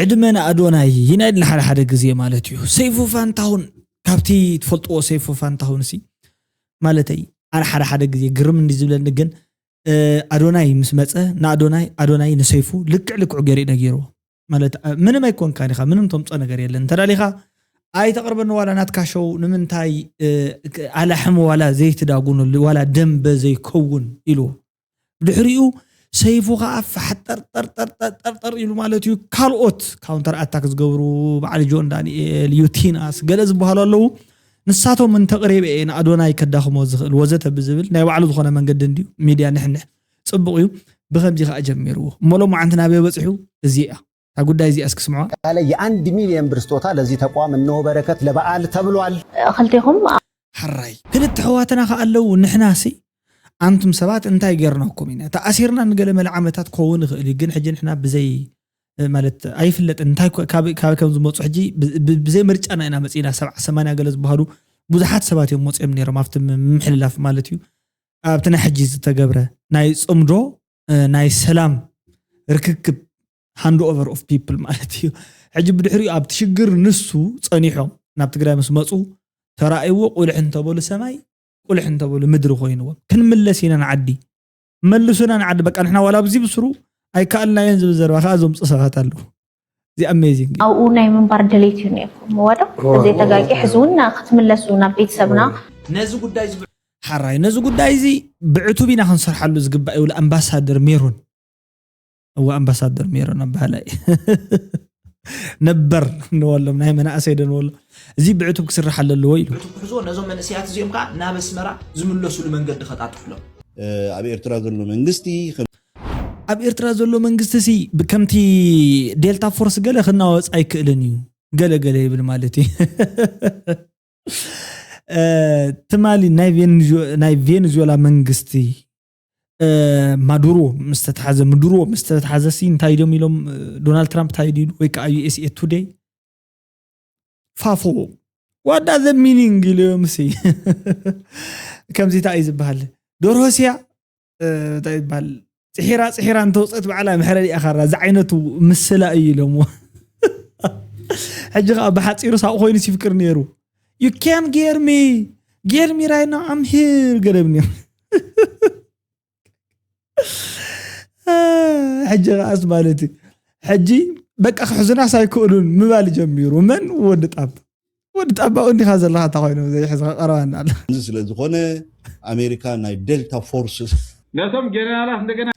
ዕድመ ንኣዶናይ ይናይድል ሓደ ሓደ ግዜ ማለት እዩ ሰይፉ ፋንታሁን ካብቲ ትፈልጥዎ ሰይፉ ፋንታሁን ሲ ማለተይ ኣነ ሓደ ሓደ ግዜ ግርም እንዲ ዝብለኒ ግን ኣዶናይ ምስ መፀ ንኣዶናይ ኣዶናይ ንሰይፉ ልክዕ ልክዑ ገይሩ እዩ ነጊርዎ ማለት ምንም ኣይኮንካን ኢኻ ምንም ተምፆ ነገር የለን እንተዳሊኻ ኣይተቕርበኒ ዋላ ናትካ ሸው ንምንታይ ኣላሕም ዋላ ዘይትዳጉኑ ዋላ ደንበ ዘይከውን ኢልዎ ድሕሪኡ ሰይፉ ከዓ ፋሕጠርጠርጠርጠርጠር ኢሉ ማለት እዩ ካልኦት ካውንተር ኣታክ ዝገብሩ በዓል ጆን ዳንኤል ዩቲናስ ገለ ዝበሃሉ ኣለዉ ንሳቶም እንተቕሪበ እየ ንኣዶናይ ከዳኽሞ ዝኽእል ወዘተ ብዝብል ናይ ባዕሉ ዝኾነ መንገዲ እንድዩ ሚድያ ንሕንሕ ፅቡቕ እዩ ብከምዚ ከዓ ጀሚርዎ እሞ ሎማዓንቲ ናበይ በፅሑ እዚ እያ እታ ጉዳይ እዚኣ እስኪ ስምዑዋ። ያለ የኣንድ ሚልየን ብር ስጦታ ለዚ ተቋም እነሆ በረከት ለበኣል ተብሏል። ኽልቴኹም። ሕራይ ክልተ ኣሕዋትና ከኣ ኣለዉ ንሕናሲ ኣንቱም ሰባት እንታይ ጌርናኩም ኢና ተኣሲርና ንገለ መለ ዓመታት ክኸውን ይኽእል እዩ ግን ሕጂ ንሕና ብዘይ ማለት ኣይፍለጥን እንታይ ኮ- ካብ ካብ ከም ዝመፁ ሕጂ ብ- ብ- ብዘይ ምርጫና ኢና መፂና ሰብዓ ሰማንያ ገለ ዝበሃሉ ብዙሓት ሰባት እዮም ወፂኦም ነይሮም ኣብቲ ም- ምምሕልላፍ ማለት እዩ ኣብቲ ናይ ሕጂ ዝተገብረ ናይ ፅምዶ ናይ ሰላም ርክክብ ሃንድ ኦቨር ኦፍ ፒፕል ማለት እዩ ሕጂ ብድሕሪኡ ኣብቲ ሽግር ንሱ ፀኒሖም ናብ ትግራይ ምስ መፁ ተራእይዎ ቁልሕ እንተበሉ ሰማይ ቁልሕ እንተበሉ ምድሪ ኮይንዎም ክንምለስ ኢና ንዓዲ መልሱና ንዓዲ በቃ ንሕና ዋላ ኣብዚ ብስሩ ኣይከኣልናዮን ዝብል ዘረባ ከዓ ዘምፁ ሰባት ኣለዉ ኣብኡ ናይ ምንባር ድሌት እዩ ነይርኩም እወዶ? ተዘይተጋጊ ሕዚ እውን ክትምለሱ ናብ ቤተሰብና። ሐራይ ነዚ ጉዳይ እዚ ብዕቱብ ኢና ክንሰርሓሉ ዝግባእ ይብሉ ኣምባሳደር ሜሮን። እወ ኣምባሳደር ሜሮን ኣባህላይ ነበር ንበሎም ናይ መናእሰይ ዶ ንበሎ እዚ ብዕቱብ ክስራሕ ኣለዎ ኢሉ። ብዕቱብ ክሕዝዎ ነዞም መንእሰያት እዚኦም ከዓ ናብ ኣስመራ ዝምለሱሉ መንገዲ ከጣጥሑሎም። ኣብ ኤርትራ ዘሎ መንግስቲ ኣብ ኤርትራ ዘሎ መንግስቲሲ ከምቲ ዴልታ ፎርስ ገለ ክናወጽ ኣይክእልን እዩ ገለ ገለ ይብል ማለት እዩ ትማሊ ናይ ቬንዙዌላ መንግስቲ ማዱሮ ምስ ተታሓዘ ምዱሮ ምስ ተታሓዘ ሲ እንታይ ድዮም ኢሎም ዶናልድ ትራምፕ እንታይ ድዩ ወይ ከዓ ዩኤስኤ ቱደይ ፋፎ ዋዳ ዘ ሚኒንግ ኢሎም ሲ ከምዚ እንታይ እዩ ዝበሃል ዶርሆስያ እንታይ ይባል ፅሒራ ፅሒራ እንተውፀት ባዕላ ምሕረድ እያ ካራ ዝዓይነቱ ምስላ እዩ ኢሎምዎ ሕጂ ከዓ ብሓፂሩ ሳብ ኮይኑ ሲፍቅር ነይሩ ዩ ካን ጌርሚ ጌርሚ ራይና ኣምሂር ገደብ ነይሩ ሕጂ ከዓስ ማለት እዩ ሕጂ በቃ ክሕዙናስ ኣይክእሉን ምባል ጀሚሩ መን ወዲ ጣብ ወዲ ጣባቑ እንዲኻ ዘለኻ እንታ ኮይኑ ዘይሕዝኻ ቀረባና ኣሎ። እዚ ስለ ዝኾነ ኣሜሪካ ናይ ደልታ ፎርስ። ነቶም ጀነራላት እንደገና።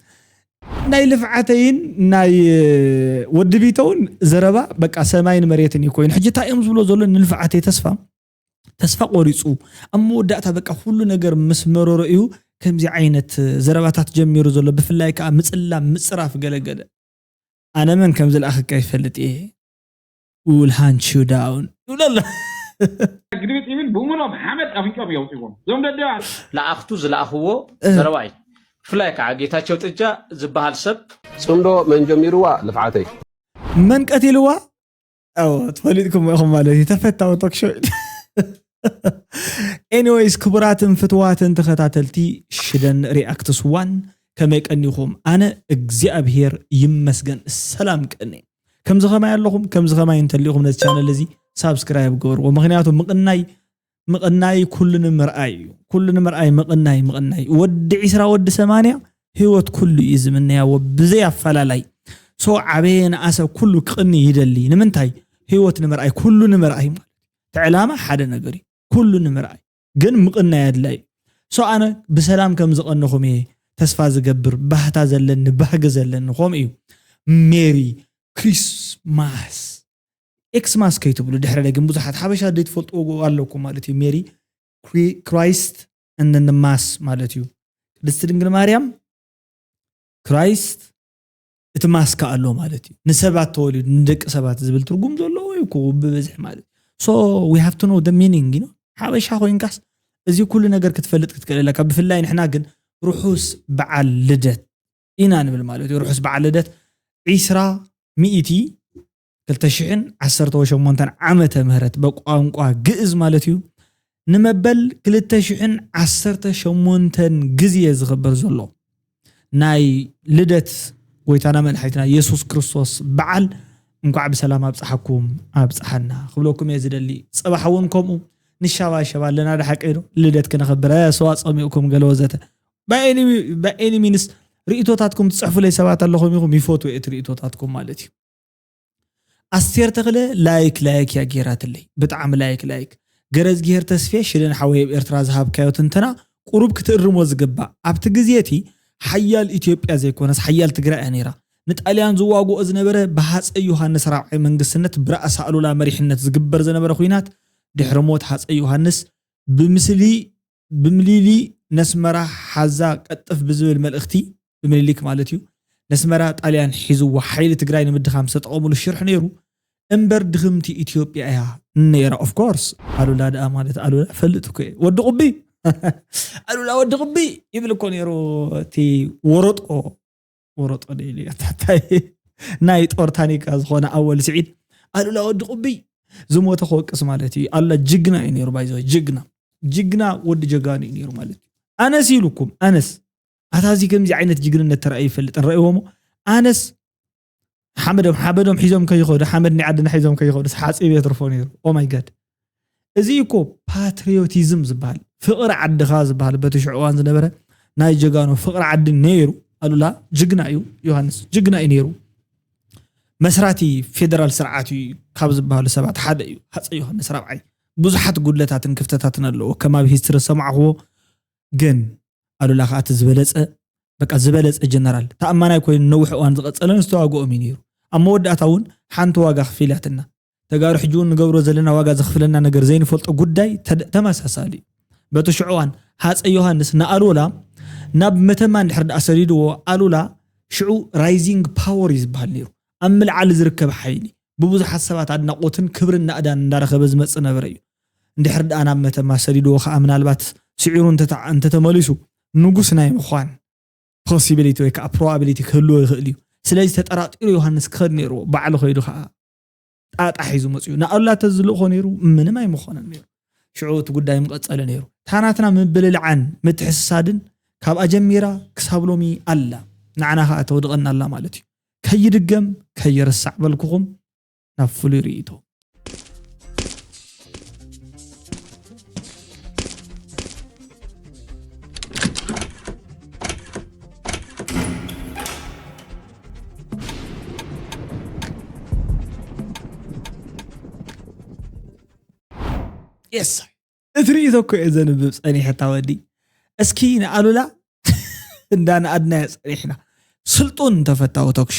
ናይ ልፍዓተይን ናይ ወዲ ቢተውን ዘረባ በቃ ሰማይን መሬትን እዩ ኮይኑ ሕጂ እንታይ እዮም ዝብሎ ዘሎ ንልፍዓተይ ተስፋ ተስፋ ቆሪፁ ኣብ መወዳእታ በቃ ኩሉ ነገር ምስ መረሮ እዩ ከምዚ ዓይነት ዘረባታት ጀሚሩ ዘሎ ብፍላይ ከዓ ምፅላም ምፅራፍ ገለገለ ኣነ መን ከም ዝለኣኸካ ይፈልጥ እየ we will hunt you down ይብሎ ኣሎ ግልብጥ ይብል ብእሙኖም ሓመድ ኣፍንጮም የውፅዎም እዞም ደደባት ለኣኽቱ ዝለኣኽዎ ዘረባ እዩ ብፍላይ ከዓ ጌታቸው ጥጃ ዝበሃል ሰብ ፅምዶ መን ጀሚርዋ ልፍዓተይ መን ቀቲልዋ ትፈሊጥኩም ኢኹም ማለት እዩ ተፈታዊ ቶክሾ ኤኒዌይስ ክቡራትን ፍትዋትን ተኸታተልቲ ሽደን ሪኣክትስ ዋን ከመይ ቀኒኹም ኣነ እግዚኣብሄር ይመስገን ሰላም ቀኒ ከምዚ ከማይ ኣለኹም ከምዚ ከማይ እንተሊኹም ነዚ ቻነል እዚ ሳብስክራይብ ገበርዎ ምክንያቱ ምቕናይ ምቕናይ ኩሉ ንምርኣይ እዩ ኩሉ ንምርኣይ ምቕናይ ምቕናይ ወዲ ዒስራ ወዲ ሰማንያ ህይወት ኩሉ እዩ ዝምነያዎ ብዘይ ኣፈላላይ ሶ ዓበየ ንኣሰ ኩሉ ክቕኒ ይደሊ ንምንታይ ህይወት ንምርኣይ ኩሉ ንምርኣይ ማለት እቲ ዕላማ ሓደ ነገር እዩ ኩሉ ንምርኣይ ግን ምቕናይ ኣድላይ እዩ so ኣነ ብሰላም ከም ዝቐንኹም እየ ተስፋ ዝገብር ባህታ ዘለኒ ባህጊ ዘለኒ ከምኡ እዩ ሜሪ ክሪስማስ ኤክስማስ ከይትብሉ ድሕረ ግን ብዙሓት ሓበሻ ዘይትፈልጥዎ ኣለኩም ማለት እዩ ሜሪ ክራይስት እንንማስ ማለት እዩ ቅድስቲ ድንግል ማርያም ክራይስት እቲ ማስካ ኣሎ ማለት እዩ ንሰባት ተወሊዱ ንደቂ ሰባት ዝብል ትርጉም ዘለዎ እዩ እኮ ብበዝሒ ማለት ሶ ዊ ሃቭ ቱ ኖ ደ ሚኒንግ ዩ ሓበሻ ኮይንካስ እዚ ኩሉ ነገር ክትፈልጥ ክትክእል ኣለካ ብፍላይ ንሕና ግን ርሑስ በዓል ልደት ኢና ንብል ማለት እዩ ርሑስ በዓል ልደት ዒስራ ሚእቲ ክልተ ሽሕን ዓሰርተ ሸሞንተን ዓመተ ምህረት በቋንቋ ግእዝ ማለት እዩ ንመበል ክልተ ሽሕን ዓሰርተ ሸሞንተን ግዜ ዝኽበር ዘሎ ናይ ልደት ጎይታና መድሓኒትና የሱስ ክርስቶስ በዓል እንኳዕ ብሰላም ኣብፀሓኩም ኣብፀሓና ክብለኩም እየ ዝደሊ ፅባሕ እውን ከምኡ ንሻባሸባ ኣለና ደሓቀይ ዶ ልደት ክነኽብረ ሰዋ ፀሚኡኩም ገለ ወዘተ ባይ ኤኒ ሚንስ ርእቶታትኩም ትፅሕፉለይ ሰባት ኣለኹም ኢኹም ይፈትዎ እቲ ርእቶታትኩም ማለት እዩ ኣስቴር ተኽለ ላይክ ላይክ እያ ገይራትለይ ብጣዕሚ ላይክ ላይክ ገረዝጊሄር ተስፌ ሽደን ሓወይ ኣብ ኤርትራ ዝሃብካዮ ትንተና ቁሩብ ክትእርሞ ዝግባእ ኣብቲ ግዜ እቲ ሓያል ኢትዮጵያ ዘይኮነስ ሓያል ትግራይ እያ ነይራ ንጣልያን ዝዋግኦ ዝነበረ ብሃፀይ ዮሃንስ ራብዓይ መንግስትነት ብራእሲ ኣሉላ መሪሕነት ዝግበር ዝነበረ ኩናት ድሕሪ ሞት ሃፀይ ዮሃንስ ብምስሊ ብምሊሊ ነስመራ ሓዛ ቀጥፍ ብዝብል መልእኽቲ ብምኒሊክ ማለት እዩ ነስመራ ጣልያን ሒዝዎ ሓይሊ ትግራይ ንምድኻም ዝተጠቐምሉ ሽርሒ ነይሩ እምበር ድኽምቲ ኢትዮጵያ እያ ነይራ ኦፍ ኮርስ ኣሉላ ድኣ ማለት ኣሉላ ፈልጥ እኮ እየ ወዲ ቁቢ ኣሉላ ወዲ ቁቢ ይብል እኮ ነይሩ እቲ ወረጦ ወረጦ ደይሉ እያ ታታይ ናይ ጦር ታኒካ ዝኾነ ኣወል ስዒድ ኣሉላ ወዲ ቁብይ ዝሞተ ክወቅስ ማለት እዩ ኣላ ጅግና እዩ ነይሩ ባይዘ ጅግና ጅግና ወዲ ጀጋኑ እዩ ነይሩ ማለት እዩ ኣነስ ኢሉኩም ኣነስ ኣታዚ ከምዚ ዓይነት ጅግንነት ተራእዩ ይፈልጥን ረእዎሞ ኣነስ ሓመዶም ሓመዶም ሒዞም ከይኸዱ ሓመድ ናይ ዓድና ሒዞም ከይኸዱ ሓፂብ የትርፎ ነይሩ ኦማይ ጋድ እዚ እኮ ፓትሪዮቲዝም ዝበሃል ፍቕሪ ዓድኻ ዝበሃል በቲ ሽዑ እዋን ዝነበረ ናይ ጀጋኑ ፍቕሪ ዓዲ ነይሩ ኣሉላ ጅግና እዩ ዮሃንስ ጅግና እዩ ነይሩ መስራቲ ፌደራል ስርዓት እዩ ካብ ዝበሃሉ ሰባት ሓደ እዩ ሃፀ ዮሃንስ ራብዓይ ብዙሓት ጉድለታትን ክፍተታትን ኣለዎ ከም ኣብ ሂስትሪ ሰማዕኽዎ ግን ኣሉላ ከኣ እቲ ዝበለጸ በቃ ዝበለጸ ጀነራል ተኣማናይ ኮይኑ ነዊሕ እዋን ዝቐጸለን ዝተዋግኦም እዩ ነይሩ። ኣብ መወዳእታ እውን ሓንቲ ዋጋ ኣኽፊላትና። ተጋሩ ሕጂ እውን ንገብሮ ዘለና ዋጋ ዘኽፍለና ነገር ዘይንፈልጦ ጉዳይ ተመሳሳሊ እዩ። በቲ ሽዑ እዋን ሃጸይ ዮሃንስ ንኣሉላ ናብ መተማ እንድሕር ደኣ ሰዲድዎ ኣሉላ ሽዑ ራይዚንግ ፓወር እዩ ዝበሃል ነይሩ። ኣብ ምልዓል ዝርከብ ሓይሊ፣ ብብዙሓት ሰባት ኣድናቖትን ክብርን ናእዳን እንዳረኸበ ዝመጽእ ነበረ እዩ። እንድሕር ድኣ ናብ መተማ ሰዲድዎ ከኣ ምናልባት ስዒሩ እንተተመሊሱ፣ ንጉስ ናይ ምዃን ፖሲቢሊቲ ወይ ከኣ ፕሮባቢሊቲ ክህልዎ ይኽእል እዩ። ስለዚ ተጠራጢሩ ዮሃንስ ክኸድ ነይርዎ፣ ባዕሉ ከይዱ ከኣ። ጣጣ ሒዙ መፅኡ ንኣሉላ ተዝልእኮ ነይሩ ምንም ኣይምኾነን ነይሩ ሽዑ እቲ ጉዳይ ምቐፀለ ነይሩ ታናትና ምብልልዓን ምትሕስሳድን ካብ ኣጀሚራ ክሳብ ሎሚ ኣላ ንዓና ከዓ ተወድቐና ኣላ ማለት እዩ ከይድገም ከይርሳዕ በልኩኹም ናብ ፍሉይ ርእይቶ የስ እቲ ርእቶ እኮ እየ ዘንብብ ፀኒሐታ ወዲ እስኪ ንኣሉላ እንዳንኣድናዮ ፀኒሕና ስልጡን ተፈታዊ ቶክሾ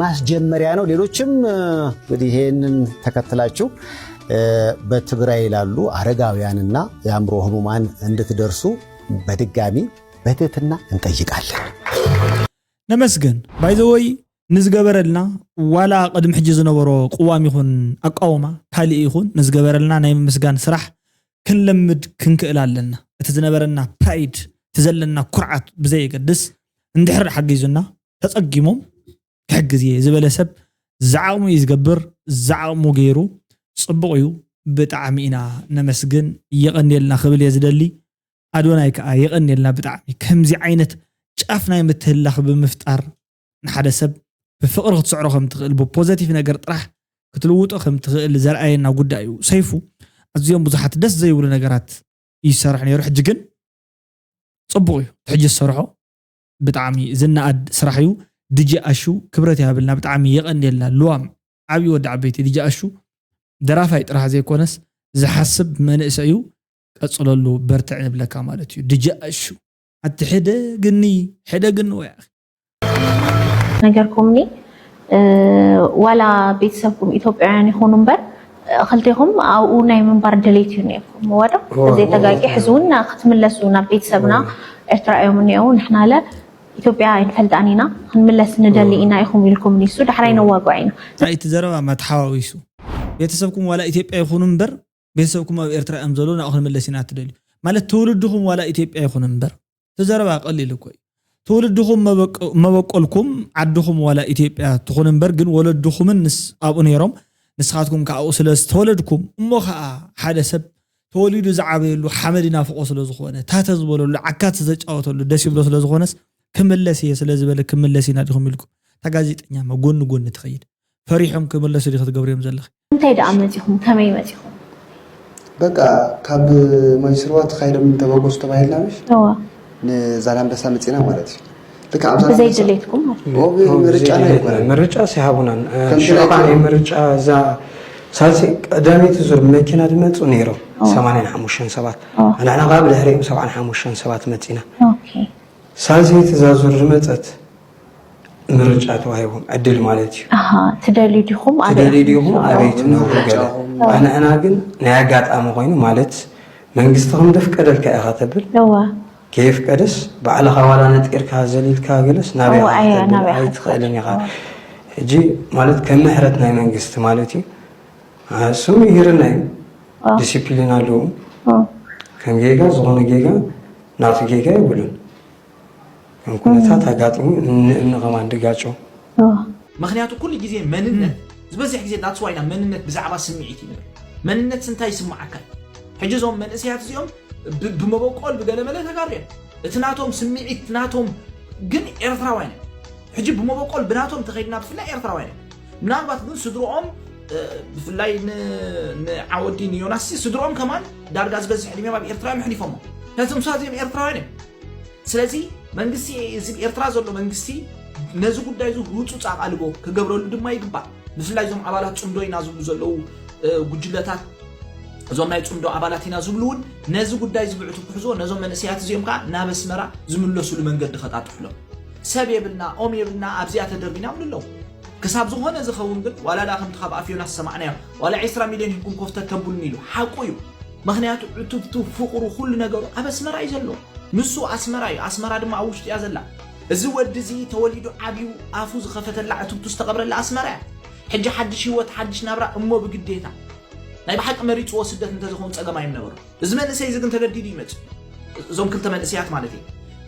ማስጀመሪያ ነው። ሌሎችም እንግዲህ ይሄንን ተከትላችሁ በትግራይ ላሉ አረጋውያንና የአእምሮ ህሙማን እንድትደርሱ በድጋሚ በትህትና እንጠይቃለን። ነመስገን ባይዘወይ ንዝገበረልና ዋላ ቅድሚ ሕጂ ዝነበሮ ቅዋም ይኹን ኣቃውማ ካልእ ይኹን ንዝገበረልና ናይ ምምስጋን ስራሕ ክንለምድ ክንክእል ኣለና እቲ ዝነበረና ፕራይድ እቲ ዘለና ኩርዓት ብዘየገድስ እንድሕር ሓጊዙና ተጸጊሞም ክሕግዝ እየ ዝበለ ሰብ ዝዓቕሙ እዩ ዝገብር ዝዓቕሙ ገይሩ ጽቡቕ እዩ ብጣዕሚ ኢና ነመስግን የቐንየልና ክብል እየ ዝደሊ ኣዶናይ ከዓ የቐንየልና ብጣዕሚ ከምዚ ዓይነት ጫፍ ናይ ምትህላኽ ብምፍጣር ንሓደ ሰብ ብፍቕሪ ክትስዕሮ ከም ትኽእል ብፖዘቲቭ ነገር ጥራሕ ክትልውጦ ከም ትኽእል ዘርኣየና ጉዳይ እዩ ሰይፉ ኣዝዮም ብዙሓት ደስ ዘይብሉ ነገራት ይሰርሕ ነይሩ ሕጂ ግን ጽቡቕ እዩ ሕጂ ዝሰርሖ ብጣዕሚ ዝነኣድ ስራሕ እዩ ድጄ ኣሹ ክብረት ይሃበልና ብጣዕሚ የቀንየልና ልዋም ዓብዪ ወዲ ዓበይቲ ድጄ ኣሹ ደራፋይ ጥራሕ ዘይኮነስ ዝሓስብ መንእሰይ እዩ ቀፅለሉ በርትዕ ንብለካ ማለት እዩ ድጄ ኣሹ ኣቲ ሕደ ግኒ ሕደ ግኒ ወይ ኣኺ ነገርኩምኒ ዋላ ቤተሰብኩም ኢትዮጵያውያን ይኹኑ እምበር ክልቴኹም ኣብኡ ናይ ምንባር ድሌት እዩ ነይርኩም እወ ዶ እዘይ ተጋጊ ሕዚ እውን ክትምለሱ ናብ ቤተሰብና ኤርትራ እዮም እኒአው ንሕና ለ ኢትዮጵያ ኣይንፈልጣን ኢና ክንምለስ ንደሊ ኢና ኢኹም ኢልኩም ኒሱ ዳሕራይ ነዋግዖ ኢና እንታይ እቲ ዘረባ ማተሓዋዊሱ ቤተሰብኩም ዋላ ኢትዮጵያ ይኹኑ እምበር ቤተሰብኩም ኣብ ኤርትራ እዮም ዘለዉ ናብኡ ክንምለስ ኢና እትደልዩ ማለት ትውልድኹም ዋላ ኢትዮጵያ ይኹን እምበር እቲ ዘረባ ቀሊል እኮ እዩ ትውልድኹም መበቆልኩም ዓድኹም ዋላ ኢትዮጵያ ትኹን እምበር ግን ወለድኹምን ንስ ኣብኡ ነይሮም ንስኻትኩም ከዓ ኣብኡ ስለ ዝተወለድኩም እሞ ከዓ ሓደ ሰብ ተወሊዱ ዝዓበየሉ ሓመድ ይናፍቆ ስለ ዝኾነ ታተ ዝበለሉ ዓካት ዝተጫወተሉ ደስ ይብሎ ስለ ዝኾነስ ክምለስ እየ ስለ ዝበለ ክምለስ ኢና ዲኹም ኢልኩም እታ ጋዜጠኛ ማ ጎኒ ጎኒ ትኸይድ ፈሪሖም ክምለሱ ዲ ክትገብርዮም ዘለኺ እንታይ ደኣ መጺኹም? ከመይ መጺኹም? በቃ ካብ ማይስርዋ ተኻይዶም እንተበገሱ ተባሂልና ምሽ እወ ንዛላምበሳ መጺና ማለት እዩ። ልክዕ ኣብ ብዘይ ዛላምበሳ ድሌትኩም ማለት እዩ። ኦብ ምርጫና ኣይኮነን። ምርጫ ሲሃቡናን ከምቲ ሽዑ ናይ ከዓኒ ምርጫ እዛ ሳልሰይ ቀዳመይቲ ዙር መኪና ድመጹ ነይሮም ኦ። ሰማንያን ሓሙሽተን ሰባት ኦ። ንሕና ከዓ ብድሕሪኦም ሰብዓን ሓሙሽተን ሰባት መጺና ኦኬ። ሳልሰይቲ እዛ ዙር ዝመጸት ምርጫ ተዋሂቦም ዕድል ማለት እዩ ትደልዩ ዲኹም ትደልዩ ዲኹም ኣበይ ትነብሩ ገለ ኣንሕና ግን ናይ ኣጋጣሚ ኮይኑ ማለት መንግስቲ ከም ዘፍቀደልካ ኢኻ ተብል ከየፍቀደስ ባዕልኻ ዋላ ነጢርካ ዘሊልካ ገለስ ናበይ ኣይትኽእልን ኢኻ ሕጂ ማለት ከም ምሕረት ናይ መንግስቲ ማለት እዩ እሱም ይህርና እዩ ዲሲፕሊን ኣለዎም ከም ጌጋ ዝኾነ ጌጋ ናቱ ጌጋ ይብሉን ኩነታት ኣጋጥሙ እንእምኒ ከማን ድጋጮ ምክንያቱ ኩሉ ግዜ መንነት ዝበዝሕ ግዜ that's why ኢና መንነት ብዛዕባ ስምዒት እዩ ንብል መንነትስ እንታይ ይስምዓካ እዩ ሕጂ እዞም መንእሰያት እዚኦም ብ- ብመበቆል ብገለመለ ተጋሩ እዮም እቲ ናቶም ስምዒት እቲ ናቶም ግን ኤርትራውያን እዮም ሕጂ ብመበቆል ብናቶም ተኸይድና ብፍላይ ኤርትራውያን እዮም ምናልባት ግን ስድርኦም እ፣ ብፍላይ ን- ንዓወዲ ንዮናስ ስድርኦም ከማን ዳርጋ ዝበዝሕ ዕድሜም ኣብ ኤርትራ እዮም ኣሕሊፎሞ ነቶም ሳዚኦም ኤርትራውያን እዮም ስለዚ መንግስቲ እዚ ኤርትራ ዘሎ መንግስቲ ነዚ ጉዳይ እዚ ህጹጽ ኣቓልቦ ክገብረሉ ድማ ይግባእ። ብፍላይ እዞም ኣባላት ጽምዶ ኢና ዝብሉ ዘለዉ ጉጅለታት እዞም ናይ ጽምዶ ኣባላት ኢና ዝብሉ እውን ነዚ ጉዳይ እዚ ብዕቱብ ክሕዝዎ ነዞም መንእሰያት እዚኦም ከዓ ናብ ኣስመራ ዝምለሱሉ መንገዲ ከጣጥሑሎም ሰብ የብልና ኦም የብልና ኣብዚኣ ተደርቢና ይብሉ ኣለዉ ክሳብ ዝኾነ ዝኸውን ግን ዋላ ዳ ከምቲ ካብ ኣፍ ዮናስ ዝሰማዕናዮ ዋላ 20 ሚልዮን ሂብኩም ኮፍተት ተብሉኒ ኢሉ ሓቁ እዩ ምኽንያቱ ዕቱብቱ ፍቕሩ ኩሉ ነገሩ ኣብ ኣስመራ እዩ ዘሎ ንሱ ኣስመራ እዩ ኣስመራ ድማ ኣብ ውሽጡ እያ ዘላ እዚ ወዲ እዚ ተወሊዱ ዓብዩ ኣፉ ዝኸፈተላ ዕቱብቱ ዝተቐብረላ ኣስመራ እያ ሕጂ ሓድሽ ህይወት ሓድሽ ናብራ እሞ ብግዴታ ናይ ብሓቂ መሪፅዎ ስደት እንተዝኸውን ፀገም ኣይምነበሮ እዚ መንእሰይ እዚ ግን ተገዲዱ ይመፅእ እዞም ክልተ መንእሰያት ማለት እዩ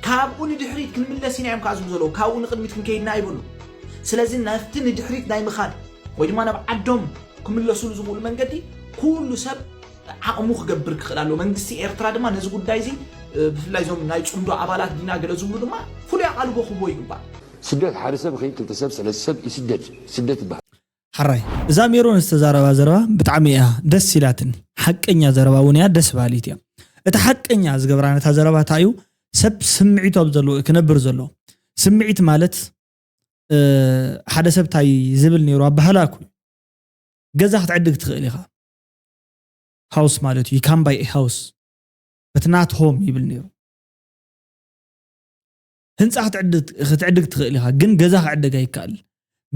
ካብኡ ንድሕሪት ክንምለስ ኢና እዮም ከዓ ዝብሉ ዘለዉ ካብኡ ንቅድሚት ክንከይድና ይብሉ ስለዚ ናብቲ ንድሕሪት ናይ ምኻድ ወይ ድማ ናብ ዓዶም ክምለሱሉ ዝኽእሉ መንገዲ ኩሉ ሰብ ዓቕሙ ክገብር ክኽእል ኣለዎ። መንግስቲ ኤርትራ ድማ ነዚ ጉዳይ እዚ ብፍላይ እዞም ናይ ጽምዶ ኣባላት ዲና ገለ ዝብሉ ድማ ፍሉይ ኣቓልቦ ክህቦ ይግባእ። ስደት ሓደ ሰብ ይኺን ክልተ ሰብ ሰለስተ ሰብ ይስደድ ስደት ይበሃል። ሐራይ እዛ ሜሮን ዝተዛረባ ዘረባ ብጣዕሚ እያ ደስ ኢላትኒ ሐቀኛ ዘረባ እውን እያ ደስ ባሃሊት እያ እቲ ሐቀኛ ዝገብራ ነታ ዘረባ ታይ እዩ ሰብ ስምዒቱ ኣብ ዘለዎ እዩ ክነብር ዘለዎ ስምዒት ማለት ሓደ ሰብ እንታይ ዝብል ነይሩ ኣባህላ እኮ ገዛ ክትዕድግ ትኽእል ኢኻ ሃውስ ማለት እዩ ካም ባይ ሃውስ በት ናት ሆም ይብል ነይሩ ህንፃ ክትዕድግ ትኽእል ኢኻ ግን ገዛ ክዕደግ ኣይከኣል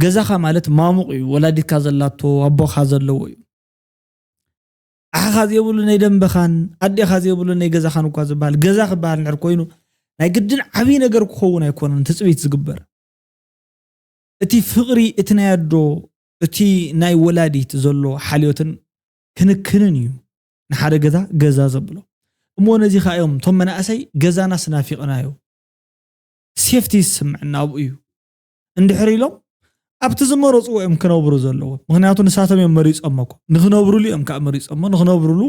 ገዛኻ ማለት ማሙቕ እዩ ወላዲትካ ዘላቶ ኣቦኻ ዘለዎ እዩ ኣሓኻ ዘይብሉ ናይ ደንበኻን ኣዴኻ ዘይብሉ ናይ ገዛኻን እኳ ዝበሃል ገዛ ክበሃል ንድሕር ኮይኑ ናይ ግድን ዓብዪ ነገር ክኸውን ኣይኮነን ትፅቢት ዝግበር እቲ ፍቕሪ እቲ ናይ ኣዶ እቲ ናይ ወላዲት ዘሎ ሓልዮትን ክንክንን እዩ ንሓደ ገዛ ገዛ ዘብሎ እሞ ነዚ ከዓ እዮም እቶም መናእሰይ ገዛና ስናፊቕናዮ ሴፍቲ ዝስምዐና ኣብኡ እዩ እንድሕር ኢሎም ኣብቲ ዝመረፅዎ እዮም ክነብሩ ዘለዎ ምክንያቱ ንሳቶም እዮም መሪፆሞ እኮ ንክነብርሉ እዮም ከዓ መሪፆሞ ንክነብርሉ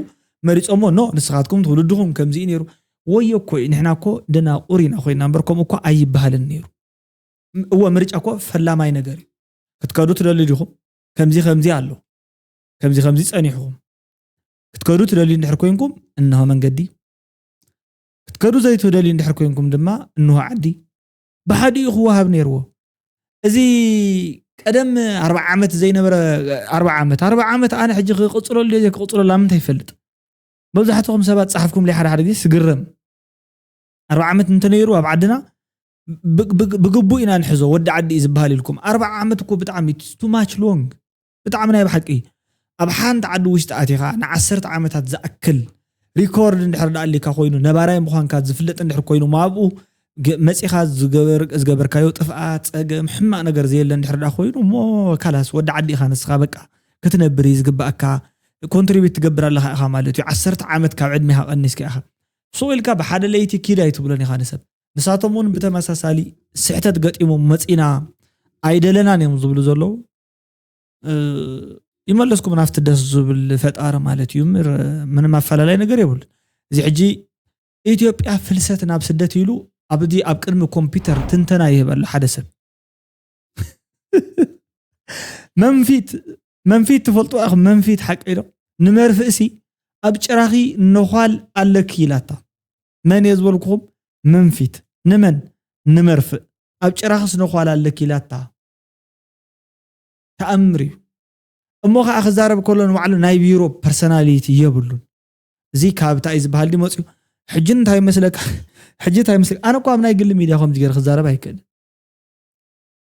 መሪፆሞ ኖ ንስኻትኩም ትውልድኹም ከምዚ ነይሩ ወዮ እኮ እዩ ንሕና እኮ ደናቁር ኢና ኮይና እምበር ከምኡ እኮ ኣይበሃልን ነይሩ እወ ምርጫ እኮ ፈላማይ ነገር እዩ ክትከዱ ትደሊ ዲኹም ከምዚ ከምዚ ኣሎ ከምዚ ከምዚ ፀኒሕኹም ክትከዱ ትደሊ እንድሕር ኮንኩም እንሆ መንገዲ ክትከዱ ዘይትደሊ እንድሕር ኮንኩም ድማ እንሆ ዓዲ ብሓዲኡ ክወሃብ ነይርዎ። እዚ ቀደም ኣርባዓ ዓመት ዘይነበረ ኣርባዓ ዓመት ኣርባዓ ዓመት ኣነ ሕጂ ክቕፅለሉ ድየ ዘይክቕፅለሉ ኣብ ምንታይ ይፈልጥ መብዛሕትኹም ሰባት ፃሓፍኩም ለይ ሓደ ሓደ ግዜ ስግረም ኣርባዓ ዓመት እንተነይሩ ኣብ ዓድና ብግቡእ ኢና ንሕዞ ወዲ ዓዲ እዩ ዝበሃል ኢልኩም ኣርባዓ ዓመት እኮ ብጣዕሚ ቱ ማች ሎንግ ብጣዕሚ ናይ ብሓቂ ኣብ ሓንቲ ዓዲ ውሽጢ ኣቲኻ ንዓሰርተ ዓመታት ዝኣክል ሪኮርድ እንድሕር ደኣ ኣሊካ ኮይኑ ነባራይ ምዃንካ ዝፍለጥ እንድሕር ኮይኑ እሞ ኣብኡ መፂኻ ዝገበርካዮ ጥፍኣት ፀገም ሕማቅ ነገር ዘየለ እንድሕር ደኣ ኮይኑ እሞ ካላስ ወዲ ዓዲ ኢኻ ንስኻ በቃ ክትነብር እዩ ዝግባእካ ኮንትሪቢት ትገብር ኣለኻ ኢኻ ማለት እዩ ዓሰርተ ዓመት ካብ ዕድሜኻ ቀኒስካ ኢኻ ስቕ ኢልካ ብሓደ ለይቲ ኪድ ኣይትብሎን ኢኻ ንሰብ ንሳቶም እውን ብተመሳሳሊ ስሕተት ገጢሞም መፂና ኣይደለናን እዮም ዝብሉ ዘለዉ ይመለስኩም ናፍቲ ደስ ዝብል ፈጣሪ ማለት እዩ ምር ምንም ኣፈላላይ ነገር የብሉ እዚ ሕጂ ኢትዮጵያ ፍልሰት ናብ ስደት ኢሉ ኣብዚ ኣብ ቅድሚ ኮምፒውተር ትንተና ይህበሉ ሓደ ሰብ መንፊት መንፊት ትፈልጡ ኢኹም መንፊት ሓቂ ኢሎ ንመርፍእሲ ኣብ ጭራኺ ነዃል ኣለኪ ኢላታ መን እየ ዝበልኩኹም መንፊት ንመን ንመርፍእ ኣብ ጭራኽስ ነዃል ኣለኪ ኢላታ ተኣምር እዩ እሞ ከዓ ክዛረብ ከሎ ንባዕሉ ናይ ቢሮ ፐርሰናሊቲ የብሉን እዚ ካብ እንታይ እዩ ዝበሃል ድዩ መፅኡ ሕጂ እንታይ መስለካ ሕጂ እንታይ መስለካ ኣነ እኳ ኣብ ናይ ግሊ ሚድያ ከምዚ ገይረ ክዛረብ ኣይክእልን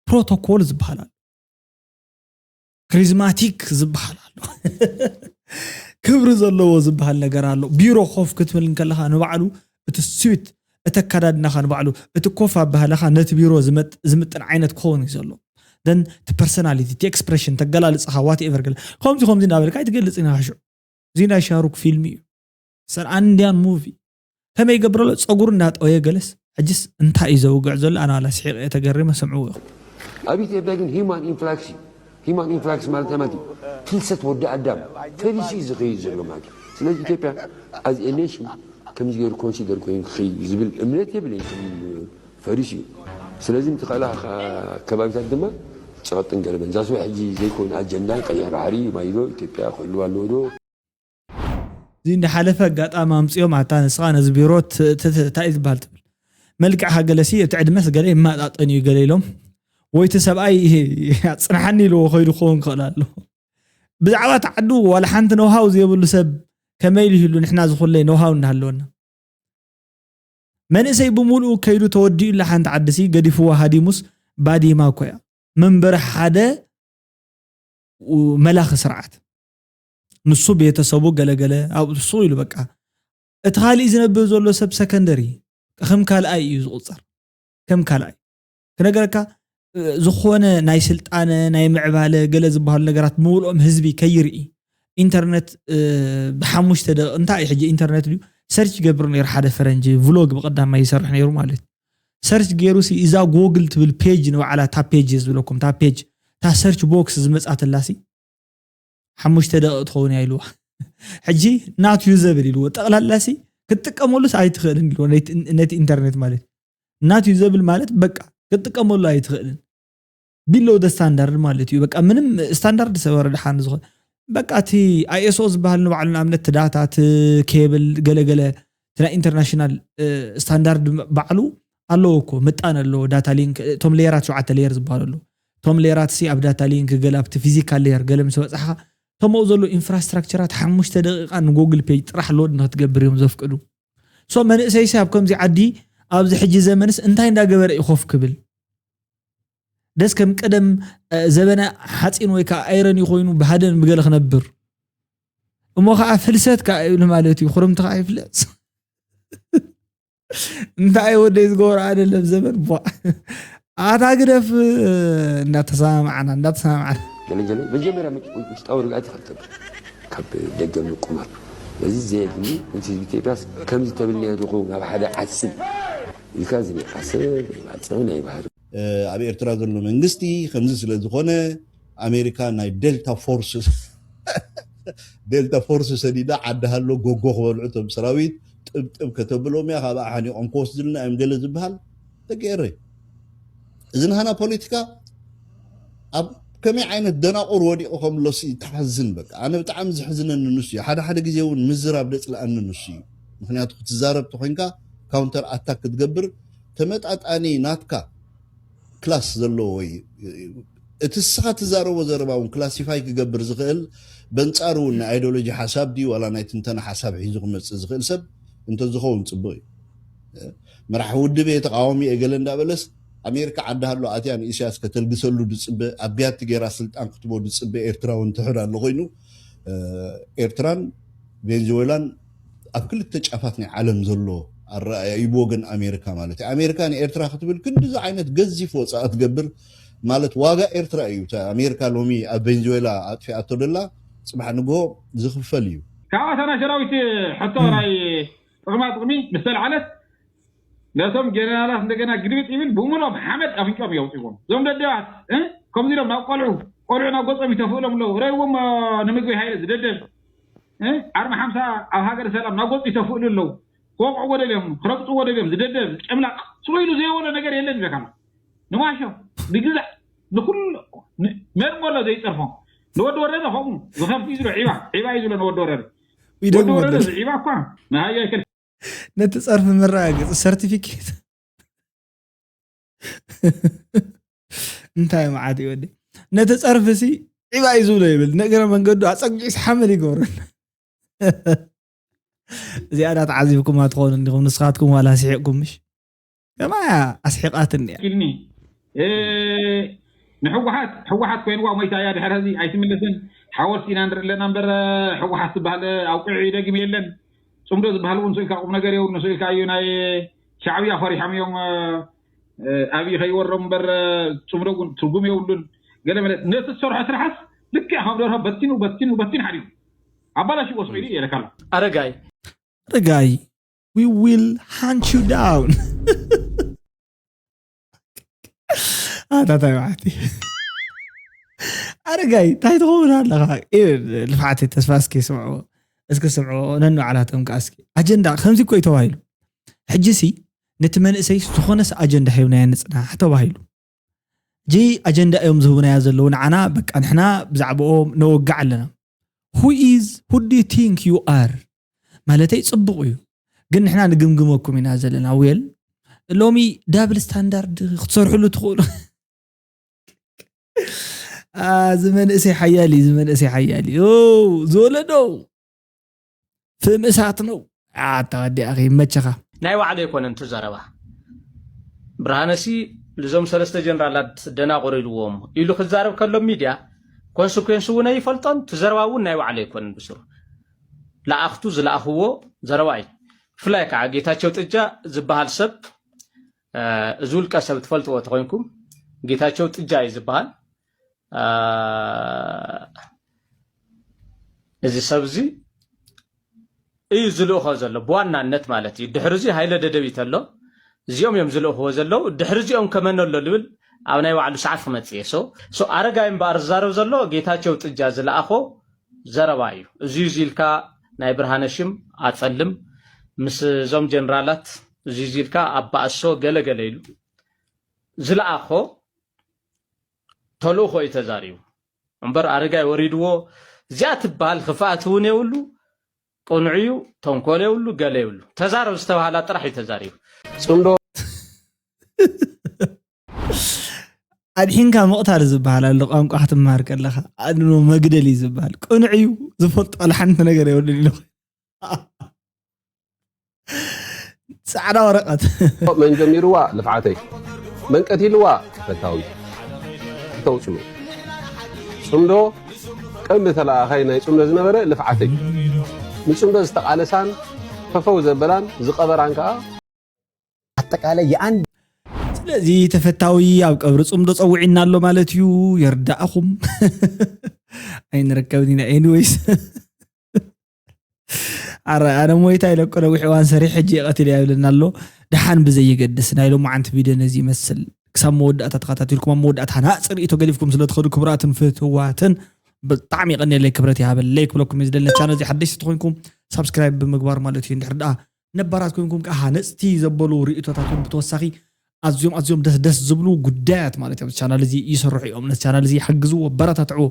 ፕሮቶኮል ዝበሃል ኣሎ ክሪዝማቲክ ዝበሃል ኣሎ ክብሪ ዘለዎ ዝበሃል ነገር ኣሎ ቢሮ ኮፍ ክትብል እንከለካ ንባዕሉ እቲ ስዊት እቲ ኣካዳድናኻ ንባዕሉ እቲ ኮፍ ኣባህላኻ ነቲ ቢሮ ዝምጥን ዓይነት ክኸውንዩ ዘለዎ then እቲ personality እቲ expression እቲ ኣገላልጻኻ what ever ገለ ከምዚ ከምዚ እንዳበልካ ኣይትገልጽን ኢኻ ሽዑ እዚ ናይ ሻሩክ ፊልሚ እዩ ሰር ኣንድያን ሙቪ ከመይ ይገብር ኣሎ ጸጉሩ እንዳጠወየ ገለስ ሕጅስ እንታይ እዩ ዘውግዕ ዘሎ ኣነ ዋላ ስሒቀ እየ ተገሪመ ስምዕዎ ኢኹም ኣብ ኢትዮጵያ ግን ሂማን ኢንፍላክስ እዩ ሂማን ኢንፍላክስ ማለት ናይ ማጊ ፍልሰት ወዲ ኣዳም ፈሊሱ እዩ ዝኸይድ ዘሎ ማጊ ስለዚ ኢትዮጵያ ኣዝ ኤ ኔሽን ከምዚ ገይሩ ኮንሲደር ኮይኑ ክኸይድ እዩ ዝብል እምነት የብለይን ከም ፈሪሱ እዩ ስለዚ ንትኸእላ ከባቢታት ድማ ጸቕጥን ገለመን ዛስወ ሕጂ ዘይኮነ ኣጀንዳ ቀይሕ ባሕሪ ማይዶ ኢትዮጵያ ክህልዋ ኣለዎ ዶ እዚ እንዳሓለፈ ኣጋጣሚ ኣምጺኦም ኣታ ንስኻ ነዚ ቢሮ ትእትት ታይ እዩ ዝባሃል ትብል መልክዕካ ገለሲ እቲ ዕድመስ ገለ ይማጣጠን እዩ ገለ ኢሎም ወይ እቲ ሰብኣይ ኣጽናሓኒ ኢልዎ ከይዱ ክኸውን ክኽእል ኣሎ ብዛዕባ እቲ ዓዱ ዋላ ሓንቲ ነውሃው ዘይብሉ ሰብ ከመይ ኢሉ ይህሉ ንሕና ዝኹለይ ነውሃው እንዳሃለወና መንእሰይ ብምሉኡ ከይዱ ተወዲኡላ ሓንቲ ዓድሲ ገዲፍዋ ሃዲሙስ ባዲማ እኮ እያ መንበሪ ሓደ መላኺ ስርዓት ንሱ ቤተሰቡ ገለገለ ኣብሱ ኢሉ በቃ እቲ ካሊእ ዝነብብ ዘሎ ሰብ ሰከንደሪ ከም ካልኣይ እዩ ዝቁፀር ከም ካልኣይ ክነገረካ ዝኾነ ናይ ስልጣነ ናይ ምዕባለ ገለ ዝበሃሉ ነገራት ምውልኦም ህዝቢ ከይርኢ ኢንተርነት ብሓሙሽተ ደቂ እንታይ እዩ ሕጂ ኢንተርነት ድዩ ሰርች ገብሩ ነይሩ ሓደ ፈረንጂ ቭሎግ ብቀዳማይ ይሰርሕ ነይሩ ማለት ሰርች ገይሩ ሲ እዛ ጎግል ትብል ፔጅ ንባዕላ እታ ፔጅ ዝብለኩም እታ ፔጅ እታ ሰርች ቦክስ ዝመፃትላ ሲ ሓሙሽተ ደቂቅ ትኸውን እያ ኢልዋ ሕጂ ናት ዩዘብል ኢልዎ ጠቕላላ ሲ ክትጥቀመሉስ ኣይትኽእልን ኢልዎ ነቲ ኢንተርኔት ማለት ናት ዩዘብል ማለት በቃ ክትጥቀመሉ ኣይትኽእልን ቢሎ ደ ስታንዳርድ ማለት እዩ በቃ ምንም ስታንዳርድ ሰበረ ድሓን ዝኾ በቃ እቲ ኣይኤስኦ ዝበሃል ንባዕሉ ንኣብነት እቲ ዳታ እቲ ኬብል ገለገለ እቲ ናይ ኢንተርናሽናል ስታንዳርድ ባዕሉ ኣለዎ እኮ ምጣን ኣለዎ ዳታ ሊንክ እቶም ሌየራት ሸውዓተ ሌየር ዝበሃሉ ኣለዉ እቶም ሌየራት ሲ ኣብ ዳታ ሊንክ ገለ ኣብቲ ፊዚካል ሌየር ገለ ምስ በጻሕኻ እቶም ኣብኡ ዘለዉ ኢንፍራስትራክቸራት ሓሙሽተ ደቂቃ ንጎግል ፔጅ ጥራሕ ሎድ ንክትገብር እዮም ዘፍቅዱ ሶ መንእሰይሲ ኣብ ከምዚ ዓዲ ኣብዚ ሕጂ ዘመንስ እንታይ እንዳገበረ እዩ ኮፍ ክብል ደስ ከም ቀደም ዘበነ ሓፂን ወይ ከዓ ኣይረን ኮይኑ ብሃደን ብገለ ክነብር እሞ ከዓ ፍልሰት ከዓ ይብሉ ማለት እዩ ክርምቲ ከዓ ይፍለፅ እንታይ ወደይ ዝገብሮ ኣደለም ዘመን ቧ ኣታ ግደፍ እንዳተሰማማዕና እንዳተሰማማዕና ገለገለ መጀመርያ ውሽጣዊ ርግኣት ኢኻ ትገብር ካብ ደገ ምቁማት ነዚ ዘየድሊ ነቲ ህዝቢ ኢትዮጵያስ ከምዚ ተብልናዮ ዶ ክኸውን ኣብ ሓደ ዓስብ ኢልካ እዚ ናይ ዓሰብ ናይ ባጽዕ ናይ ባህሪ ኣብ ኤርትራ ዘሎ መንግስቲ ከምዚ ስለ ዝኾነ ኣሜሪካ ናይ ደልታ ፎርስ ደልታ ፎርስ ሰዲዳ ዓዲ ሃሎ ጎጎ ክበልዑ እቶም ሰራዊት ጥብጥብ ከተብሎም እያ ካብኣ ሓኒቖም ክወስድልና እዮም ገለ ዝበሃል ደቂ ኤረይ እዚ ንሃና ፖለቲካ ኣብ ከመይ ዓይነት ደናቑር ወዲቑ ከምሎ ተሓዝን በቃ ኣነ ብጣዕሚ ዝሕዝነኒ ንሱ እዩ ሓደ ሓደ ግዜ እውን ምዝራብ ደፅለኣኒ ንሱ እዩ ምክንያቱ ክትዛረብ ተኮይንካ ካውንተር ኣታክ ክትገብር ተመጣጣኒ ናትካ ክላስ ዘለዎ ወይ እቲ እስኻ ትዛረቦ ዘረባ እውን ክላሲፋይ ክገብር ዝኽእል በንጻሩ እውን ናይ ኣይዶሎጂ ሓሳብ ድዩ ዋላ ናይ ትንተና ሓሳብ ሒዙ ክመጽእ ዝኽእል ሰብ እንተዝኸውን ጽቡቕ እዩ። መራሒ ውድብ እየ ተቓዋሚ እየ ገለ እንዳበለስ ኣሜሪካ ዓዲ ሃሎ ኣትያ ንኢሳያስ ከተልግሰሉ ዝጽበ ኣብ ቢያቲ ጌራ ስልጣን ክትቦ ዝጽበ ኤርትራዊ እንተሕር ኣሎ ኮይኑ ኤርትራን ቬንዝዌላን ኣብ ክልተ ጫፋት ናይ ዓለም ዘሎ ኣረኣእያ እዩ ብወገን ኣሜሪካ ማለት እዩ። ኣሜሪካ ንኤርትራ ክትብል ክንዲ ዝዓይነት ገዚፍ ወጻኢ ክትገብር ማለት ዋጋ ኤርትራ እዩ። እቲ ኣሜሪካ ሎሚ ኣብ ቬንዙዌላ ኣጥፊኣቶ ደላ ጽባሕ ንግሆ ዝኽፈል እዩ። ካብ ኣታ ናይ ሰራዊት ሕቶ ናይ ጥቅማ ጥቅሚ ምስ ተልዓለት ነቶም ጀነራላት እንደገና ግልብጥ ይብል ብምሉኦም ሓመድ ኣፍንጭኦም የውጽዎም እዞም ደደባት እ ከምዚ ኢሎም ናብ ቆልዑ ቆልዑ ናብ ገጾም ይተፍእሎም ኣለዉ ረእይዎሞ ንምግበይ ሃይለ ዝደደብ ዓርቢ ሓምሳ ኣብ ሃገረ ሰላም ናጎጽ ይተፍእሉ ኣለው ክወቅዕዎ ደልዮም ክረግጽዎ ደልዮም ዝደደብ ጨምላቅ ስቅ ኢሉ ዘይበሎ ነገር የለን ይብለካሎ ንዋሾ ንግዛዕ ንኩሉ መርመሎ ዘይጸርፎ ንወዲ ወረደ ከምኡ ዝኸፍት እዩ ዝሎ ዒባ ዒባ እዩ ዝሎ ንወዲ ወረደ ወዲ ወረደ ዝዒባ እኳ ንሃያ ይከል ነቲ ጸርፊ መረጋገጺ ሰርቲፊኬት እንታይ መዓት እዩ ወዲ ነቲ ፀርፊ ሲ ዒባ እዩ ዝብሎ ይብል ንእግረ መንገዱ ኣፀጊዑ ሓመድ ይገብረን እዚኣ ዳ ተዓዚብኩማ ትኾኑ እንዲኹም ንስኻትኩም ዋላ ስሒቕኩም ምሽ ከማ ኣስሒቓትኒ እያ ኪልኒ ንሕወሓት ሕወሓት ኮይንዋ ሞይታ እያ ድሕር ሕዚ ኣይትምለስን ሓወልቲ ኢና ንርኢ ኣለና እምበር ሕወሓት ዝበሃል ኣውቂዑ ይደግም የለን ጽምዶ ዝብሃል እውን ስእልካ ቁምነገር የብሉን ስእልካ እዩ ናይ ሻዕብያ ፈሪሖም እዮም ኣብይ ከይወሮም እምበር ጽምዶ እውን ትርጉም የብሉን ገለ መለ ነቲ ዝሰርሖ ስራሕስ ልክዕ ከም ደርሆ በቲኑ በቲኑ በቲኑ ሓዲሩ ኣባላሽዎ ስቂሉ እዩ የለካ ኣሎ ኣረጋይ ኣረጋይ we will hunt you down ኣታታይ መዓልቲ ኣረጋይ እንታይ ትኸውን ኣለኻ ልፍዓተይ ተስፋ እስኪ ስምዕዎ እስኪ ስምዕዎ ነንባዕላቶም ከዓ እስኪ ኣጀንዳ ከምዚ እኮ እዩ ተባሂሉ ሕጂ ሲ ነቲ መንእሰይ ዝኾነስ ኣጀንዳ ሂብናዮ ንፅናሕ ተባሂሉ ጂ ኣጀንዳ እዮም ዝህቡናዮ ዘለዉ ንዓና በቃ ንሕና ብዛዕባኦም ነወግዕ ኣለና ሁ ኢዝ ሁ ዱ ዩ ቲንክ ዩ ኣር ማለተይ ጽቡቕ እዩ ግን ንሕና ንግምግመኩም ኢና ዘለና ዌል ሎሚ ዳብል ስታንዳርድ ክትሰርሕሉ ትኽእሉ እዚ መንእሰይ ሓያል እዩ እዚ መንእሰይ ሓያል እዩ ዝወለዶ ፍም እሳት ነው ኣታወዲኣ ይመቸኻ ናይ ባዕሉ ኣይኮነን እቲ ዘረባ ብርሃነሲ ልዞም ሰለስተ ጀነራላት ደናቑር ኢልዎም ኢሉ ክዛረብ ከሎ ሚድያ ኮንስኩዌንስ እውን ኣይፈልጦን እቲ ዘረባ እውን ናይ ባዕሉ ኣይኮነን ብስሩ ለኣኽቱ ዝለኣኽዎ ዘረባ እዩ። ብፍላይ ከዓ ጌታቸው ጥጃ ዝበሃል ሰብ እዚ ውልቀ ሰብ ትፈልጥዎ ተኮይንኩም ጌታቸው ጥጃ እዩ ዝበሃል እዚ ሰብ እዚ እዩ ዝልእኾ ዘሎ ብዋናነት ማለት እዩ። ድሕሪ እዚ ሃይለ ደደቢት ኣሎ እዚኦም እዮም ዝልእኽዎ ዘለዉ። ድሕሪ እዚኦም ከመን ኣሎ ልብል ኣብ ናይ ባዕሉ ሰዓት ክመፅእ እየ። ኣረጋይ እምበኣር ዝዛረብ ዘሎ ጌታቸው ጥጃ ዝለኣኾ ዘረባ እዩ እዙይ እዙይ ኢልካ ናይ ብርሃነ ሽም ኣፀልም ምስ እዞም ጀነራላት እዙይ እዙይ ኢልካ ኣባእሶ ገለ ገለ ኢሉ ዝለኣኾ ተልእኾ እዩ ተዛሪቡ እምበር ኣረጋይ ወሪድዎ እዚኣ ትበሃል ክፍኣት እውን የብሉ ቅኑዕ እዩ ተንኮል የብሉ ገለ የብሉ ተዛረብ ዝተባሃላ ጥራሕ እዩ ተዛሪቡ ፅምዶ ኣድሒንካ ምቕታል ዝበሃል ኣሎ ቋንቋ ክትምሃር ከለኻ ኣድኖ መግደል እዩ ዝበሃል ቅኑዕ እዩ ዝፈልጦ ዋላ ሓንቲ ነገር የብሉን ኢሉ ፃዕዳ ወረቐት መን ጀሚርዋ ልፍዓተይ መን ቀቲልዋ ፈታዊ ተውፅሉ ፅምዶ ቀንዲ ተለኣኻይ ናይ ፅምዶ ዝነበረ ልፍዓተይ ንፅምዶ ዝተቓለሳን ፈፈው ዘበላን ዝቐበራን ከዓ ኣጠቃላይ የኣንድ ስለዚ ተፈታዊ ኣብ ቀብሪ ፅምዶ ፀውዒና ኣሎ ማለት እዩ የርዳእኹም ኣይንረከብን ኢና ኤኒወይስ ኣረ ኣነ ሞይታ ኢለኮ ነዊሕ እዋን ሰሪሕ ሕጂ የቐትል እያ ይብለና ኣሎ ድሓን ብዘየገድስ ናይ ሎማዓንቲ ቪድዮ ነዚ ይመስል ክሳብ መወዳእታ ተኸታቲልኩም ኣብ መወዳእታ ሃናፅ ርእቶ ገዲፍኩም ስለትኸዱ ክብራትን ፍትዋትን ብጣዕሚ ይቐኒለይ ክብረት ይሃበለይ ክብለኩም እዩ ዝደለ ቻነል እዚ ሓደሽቲ ተኮይንኩም ሳብስክራይብ ብምግባር ማለት እዩ እንድሕር ደኣ ነባራት ኮይንኩም ከዓ ሃነፅቲ ዘበሉ ርእቶታት እውን ብተወሳኺ ኣዝዮም ኣዝዮም ደስ ደስ ዝብሉ ጉዳያት ማለት እዮም ቻናል እዚ ይስርሑ እዮም ነቲ ቻናል እዚ ሓግዝዎ ኣበረታትዕዎ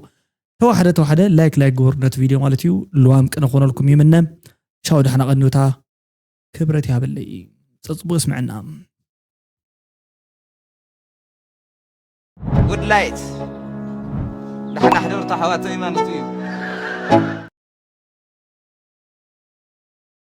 ተዋሕደ ተዋሕደ ላይክ ላይክ ግበሩ ነቲ ቪድዮ ማለት እዩ ልዋም ቅነ ክኾነልኩም ይምነ ሻው ዳሕና ቀኒውታ ክብረት ያበለይ ፀፅቡቅ ስምዕና ጉድ ላይት ዳሕና ሕደርታ ሓዋተይ ማለት እዩ